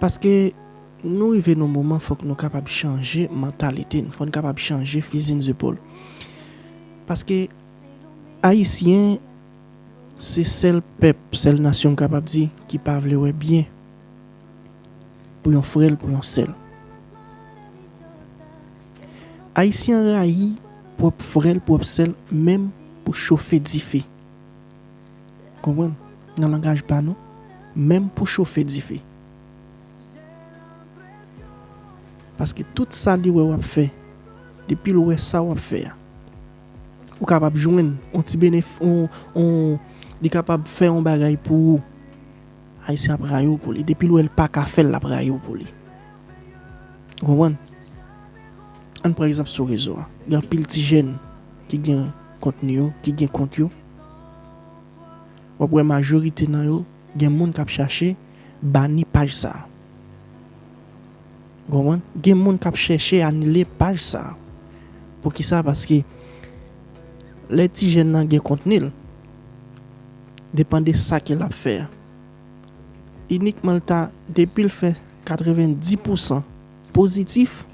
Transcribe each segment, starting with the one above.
Paske nou rive nan moman fòk nou kapab chanje mantalite n, fò n kapab chanje fizi n zepòl. Paske Ayisyen se sèl pèp, sèl nasyon m kapab di ki pa vle wè byen pou yon frè l, pou yon sè l. Ayisyen rayi pwòp frè l, pwòp sè l menm pou chofe dife. Konprann? Nan langaj pa nou, menm pou chofe dife. Paske tout sa li wè w ap fè, depi l wè sa w ap fè a, ou kapab jwenn yon ti benef, yon, li kapab fè yon bagay pou ou, Ayisyen ap rayi w pou li. Depi l wè l pa ka fè l, l ap rayi w pou li. Ou konprann? Ann pran egzanp sou rezo a. Gen anpil ti jèn ki gen kontni yo, ki gen kont yo. Wap wè majorite nan yo gen moun kap chache bani paj sa. Ou konprann? Gen moun kap chèche anile paj sa. Poukisa? Paske lè ti jèn nan gen kontni l, depan de sa ke lap fè a. Inikman l ta depi l fè 90 pousan. Pozitif,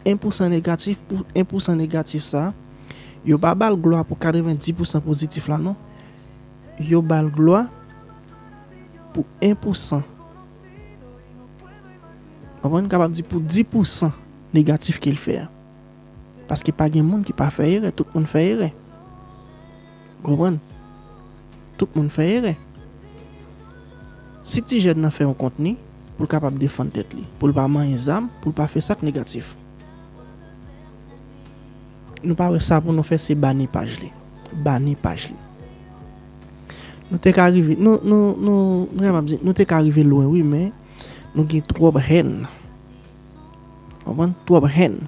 1 pousan negatif pou 1 pousan negatif sa, yo pa bal glwa pou 90 pousan pozitif la non, yo bal glwa pou 1 pousan, konprann m kapab di pou 10 pousan negatif kel fè a, paske pa gen moun ki pa fè erè, tout moun fè erè. Konprann? Tout moun fè erè. Si ti jèn nan fè yon kontni, pou l kapab defann tèt li, pou l pa manyen zam, pou l pa fè sa k negatif. Nou pa wè sa pou nou fè se bani paj li. Bani paj li. Nou te ka rive, nou, nou, nou, m ta kapab di, nou te ka rive lwen wi men, nou gen twòp hèn. Konprann? Twòp hèn.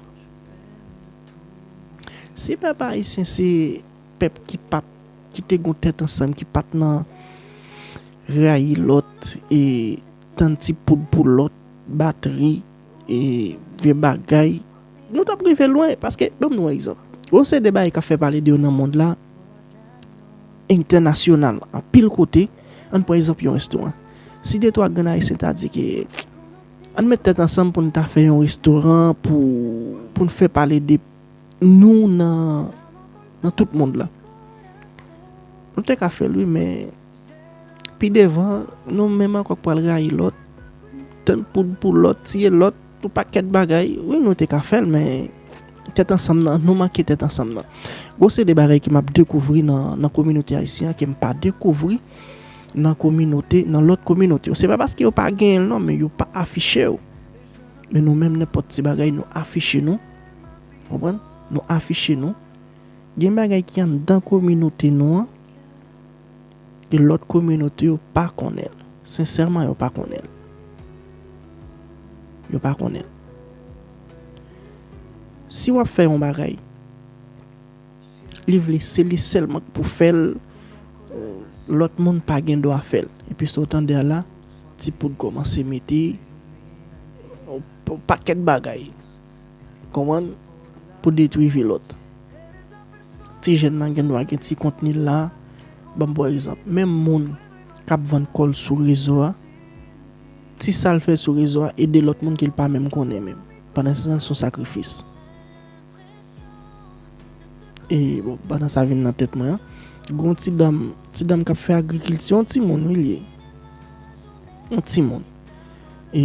Si pèp ayisyen se. pèp ki pat ki te gon tèt ansanm ki pat nan rayi lòt e tann ti poud pou lòt batri e vye bagay nou tap rive lwen paske banm nou egzanp gon seri de bagay kap fè pale de yo nan mond la entènasyonal anpil kote ann pran egzanp yon restoran si de twa grenn ayisyen ta di ke ann met tèt ansanm poun ta fè yon restoran pou poun fè pale de. nou nan tout mond la. Nou te ka fè l wi men pi devan nou menm ankò k pral rayi lòt, tann poud pou lòt, tiye lòt, yon pakèt bagay. Wi nou te ka fè l men tèt ansanm nan, nou manke tèt ansanm nan. Gon seri de bagay ke m ap dekouvri nan kominote ayisyen an ke m pa dekouvri nan kominote, nan lòt kominote yo. Se pa paske yo pa genyen l non men yo pa afiche yo. Men nou menm nenpòt ti bagay nou afiche nou. Konprann? Nou afiche nou. Gen bagay ki anndan kominote nou an, ke lòt kominote yo pa konnen. Sensèman yo pa konnen. Yo pa konnen. Si wap fè yon bagay, li vle se li sèlman k pou fèl, lòt moun pa gen dwa fèl. Epi sa w tande a la, ti poud kòmanse mete, yon pakèt bagay. Konprann pou detwi vi lòt. Ti jèn nan gen dwa gen ti kontni l la. Banm pwan egzanp. Menm moun k ap vann kò l sou rezo a, ti sa l fè sou rezo a ede lòt moun ke l pa menm konnen menm. Pandan se tan l se yon sakrifis. E bon, pandan sa vin nan tèt mwen an, gen yon ti dam, ti dam k ap fè agrikilti. Yon timoun wi l ye. Yon timoun. E.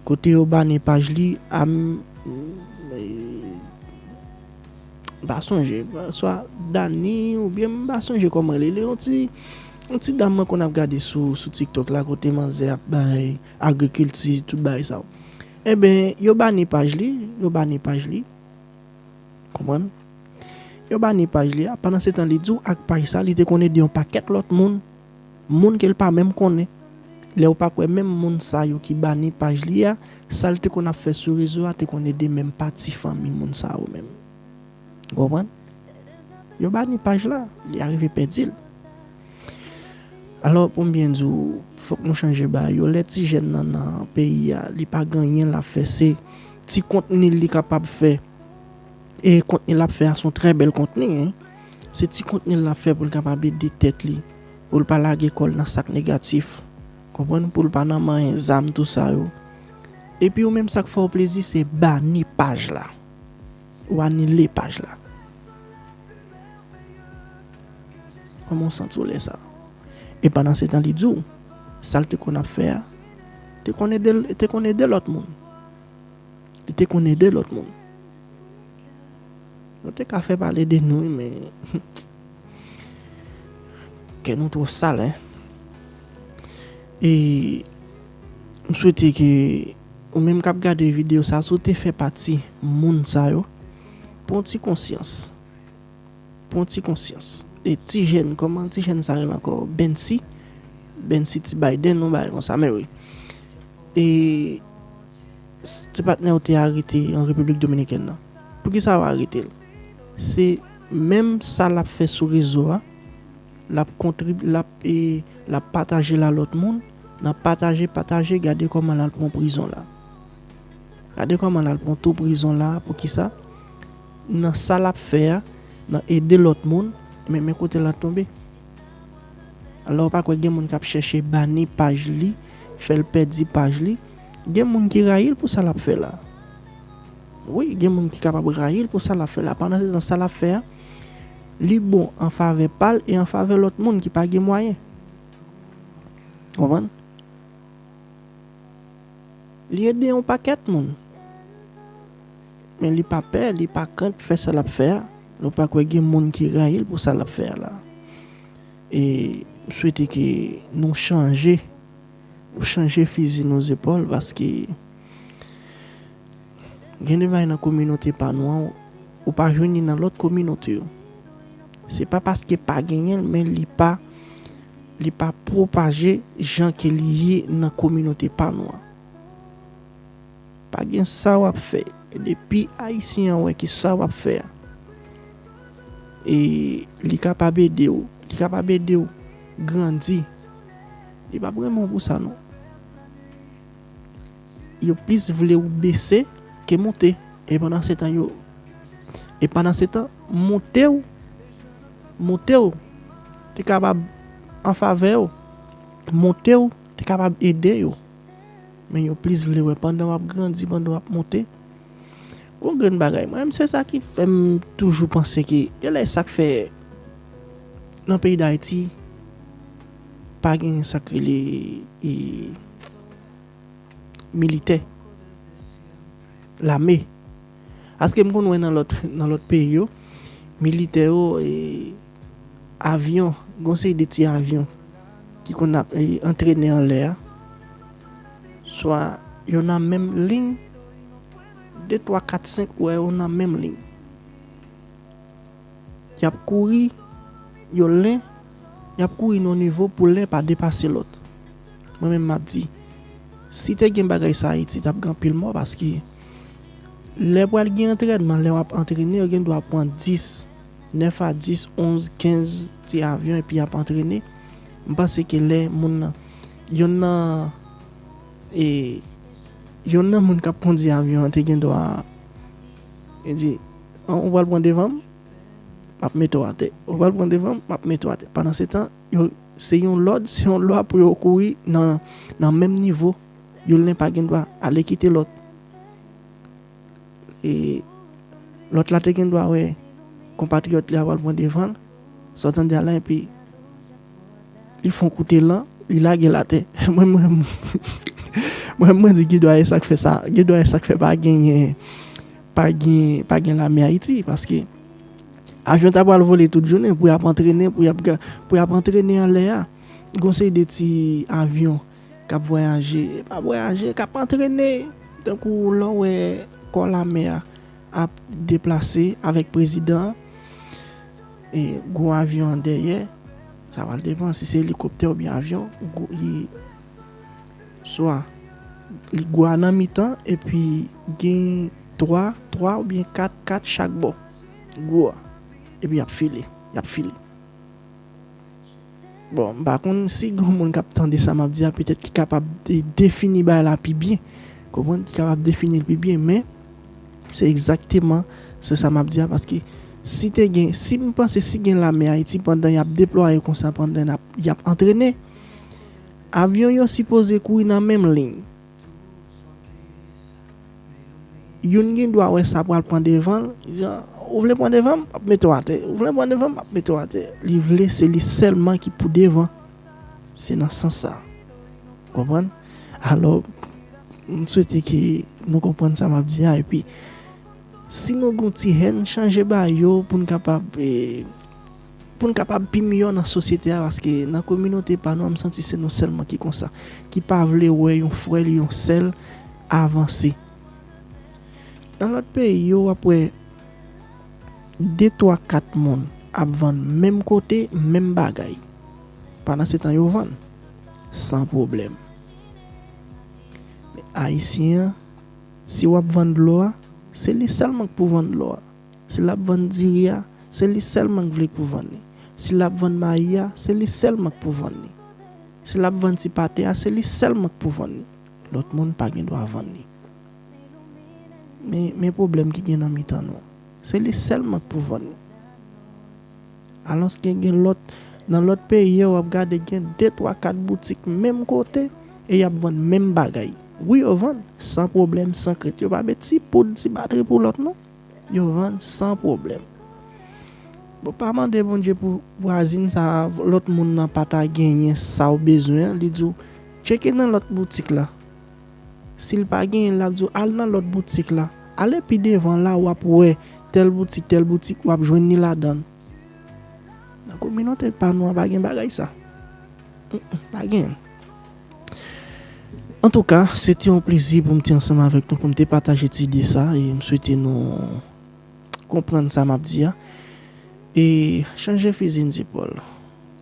Kote yo bane paj li a m pa sonje swa Dani oubyen m pa sonje kòman li yon ti yon ti dam mwen konn ap gade sou sou tiktok la kote manzè ap bay agrikilti tout bagay sa yo enben yo bane paj li yo bane paj li konprann yo bane paj li a pandansetan li di w ak paj sa li te konn ede yon pakèt lòt moun Moun ke l pa menm konnen. Lè ou pa kwè menm moun sa yo ki bani paj li a, sa l te konn ap fè sou rezo a te konn ede menm pa ti fanmi moun sa yo menm. Ou konprann? Yo bani paj la, li arive pèdi l. Alò, pou m byen di ou, fòk nou chanje bagay yo. Lè ti jèn nan nan peyi a, li pa gen anyen l ap fè, se ti kontni li kapab fè. E kontni lap fè a son trè bèl kontni hein se ti kontni lap fè poul kapab ede tèt li poul pa lage kòl nan sak negatif konprann poul pa nan manyen zam tou sa yo epi ou menm sak fèw plezi se bani paj la ou anile paj la kòmanw santiw lè sa e pandan se tan li diw sal te konn ap fè a te konn edel te konn ede lòt moun. Li te konn ede lòt moun. Nou te ka fè pale de nou wi men kè nou twò sal hein. E m swete ke ou menm kap gade video sa si w te fè pati moun sa yo pran w ti konsyans. pwan ti konsyans e ti jèn kòman ti jèn sa rele ankò bensy bensy ti baydenn yon bagay konsa mè wi e ti patnèw te arete an repiblik dominikèn nan poukisa yo aretel se menm sa lap fè sou rezo a lap kontrib lap e lap patajel a lòt moun nan pataje pataje gade kòman lal pwan prizon la gade kòman lal pwan tou prizon la poukisa Nan sa lap fè a, nan ede lòt moun, men men kote la tonbe. Alò ou pa kwè gen moun kap chèche bani paj li, fèl pèdi paj li. Gen moun ki rayil pou sa lap fè la. Wi gen moun ki kapab rayil pou sa lap fè la. Pandan se tan sa lap fè a, li bon an favè pal e an favè lòt moun ki pa gen mwayen. Ou konprann? Li ede yon pakèt moun. Men li pa pè, li pa krent fè sa l ap fè a. Nou pa kwè gen moun ki rayi l pou sa l ap fè a la. E m swete ke nou chanje, nou chanje fizi nou zepòl paske gen de bagay nan kominote pa nou an ou pa jwenn li nan lòt kominote yo. Se pa paske pa genyen l men li pa, li pa pwopaje jan ke li ye nan kominote pa nou an. Pa gen sa wap fè depi ayisyen an wè ke sa wap fè a e li kapab ede w li kapab ede w grandi li pap renmen w pou sa non yo plis vle w bese ke moute e pandan se tan yo e pandan se tan moute w moute w te kapab an favè w moute w te kapab ede yo. Men yo plis vle wè pandan wap grandi, pandan wap monte. Gon grenn bagay mwen menm se sa ki fèm toujou panse ke genlè e sak fè nan peyi dayiti pa gen sak rele militè, lame. Paske m konn wè nan lòt nan lòt peyi yo, militè yo e avyon, gen yon seri de ti avyon ki konn ap e antrene anlè a, swa yo nan menm ling, de twa kat senk ou wè yo nan menm ling. Y ap kouri, yo len, y ap kouri nan yon nivo pou len pa depase lòt. Mwen menm m ap di, si te gen bagay sa Ayiti t ap gen anpil mò paske lè pral gen antrènman, lè w ap antrene yo gen dwa pran 10, 9 a 10, 11, 15 ti avyon epi y ap antrene. M panse ke lè moun nan, yonn nan e yonn nan moun k ap kondi avyon an te gen dwa. Li di, ou pral pran devan m, m ap mete w atè. Ou pral pran devan m, m ap mete w atè. Pandansetan, se yon lòd, se yon lwa pou yo kouri nan menm nivo. Youn nen pa gen dwa ale kite lòt. E lòt la te gen dwa wè konpatriyòt li a pral pran devan l, sa w tande a la epi. Li fon koute lan, li lage l atè. Mwen m renmn. Mwen renmn mwen di gen dwa e sak fè sa, gen dwa e sak fè pa genyen pa gen pa gen lame ayiti paske avyon ta pral vole tout jounen pou yap antrene pou yap pou yap antrene anlè a gon seri de ti avyon kap vwayaje e pa vwayaje kap antrene tankou lè w wè kò lame a ap deplase avèk prezidan an. E gwo avyon an dèyè, sa pral depan si se elikoptè oubyen avyon, li swa li gwo a nan mitan epi gen 3, 3 oubyen 4, 4 chak bò gwo a epi y ap file, y ap file. Bon, m pa konn si gen yon moun k ap tande sa m ap di a petèt ki kapab defini bagay la pi byen, konprann, ki kapab defini l pi byen. Men, se egzakteman se sa m ap di a paske si te gen, si m panse si gen lame Ayiti pandan y ap deplwaye kon sa, pandan y ap antrene, avyon yo sipoze kouri nan menm liy. Youn gen dwa wè sa pral pran devan l, li di, Ou vle pran devan m, m ap mete w atè. Ou vle pran devan m, m ap mete w atè. Li vle se li sèlman ki pou devan. Se nan sans sa a. Ou konprann? Alò, m swete ke nou konprann sa m ap di a. Epi, si nou gen yon ti hèn, chanje ba yo pou n kapab. Pou n kapab pi miyò nan sosyete a paske nan kominote pa nou an m santi se nou sèlman ki konsa, ki pa vle wè yon frè l, yon sè l avanse. Nan lòt peyi yo w ap wè de twa kat moun ap vann menm kote menm bagay pandansetan yo vann san pwoblèm. Men Ayisyen an si w ap vann dlo a se li sèlman k pou vann dlo a. Si lap vann diri a, se li sèlman k vle pou vann li. Si lap vann mayi a, se li sèlman k pou vann li. Si lap vann ti pate a, se li sèlman k pou vann li. Lòt moun pa gen dwa vann li. Men, men pwoblèm ki gen nan mitan nou. Se li sèlman k pou vann li. Alòske gen lòt, nan lòt peyi yo, w ap gade gen de twa kat boutik menm kote e y ap vann menm bagay. Wi yo vann, san pwoblèm, san krent. Yo pa met ti poud, ti batri pou lòt non. Yo vann san pwoblèm. Bon pa mande Bondye pou vwazin sa a, lòt moun nan pa ta genyen sa ou bezwen an, li di ou, tcheke nan lòt boutik la. Si l pa genyen l, l ap di ou, al nan lòt boutik la. Ale pi devan la w ap wè tèl boutik, tèl boutik, w ap jwenn ni ladan l. Nan kominote pa nou an pa gen bagay sa. Pa gen. Antouka, se te yon plezi pou m te ansanm avèk nou, pou m te pataje ti ide sa e m swete nou konprann sa m ap di a e chanje fizi n zepòl.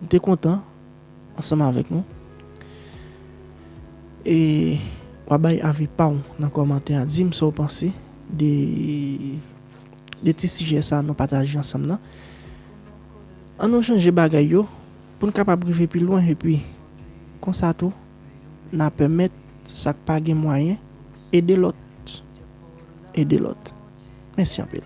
M te kontan ansanm avèk nou e w a bay avi pa w nan kòmantè a. Di m sa w panse de ti sijè sa nou pataje ansanm nan. An nou chanje bagay yo. Pou n kapab rive pi lwen epi, konsa tou, n a pèmèt sa k pa gen mwayen ede lòt ede lòt. Mèsi anpil.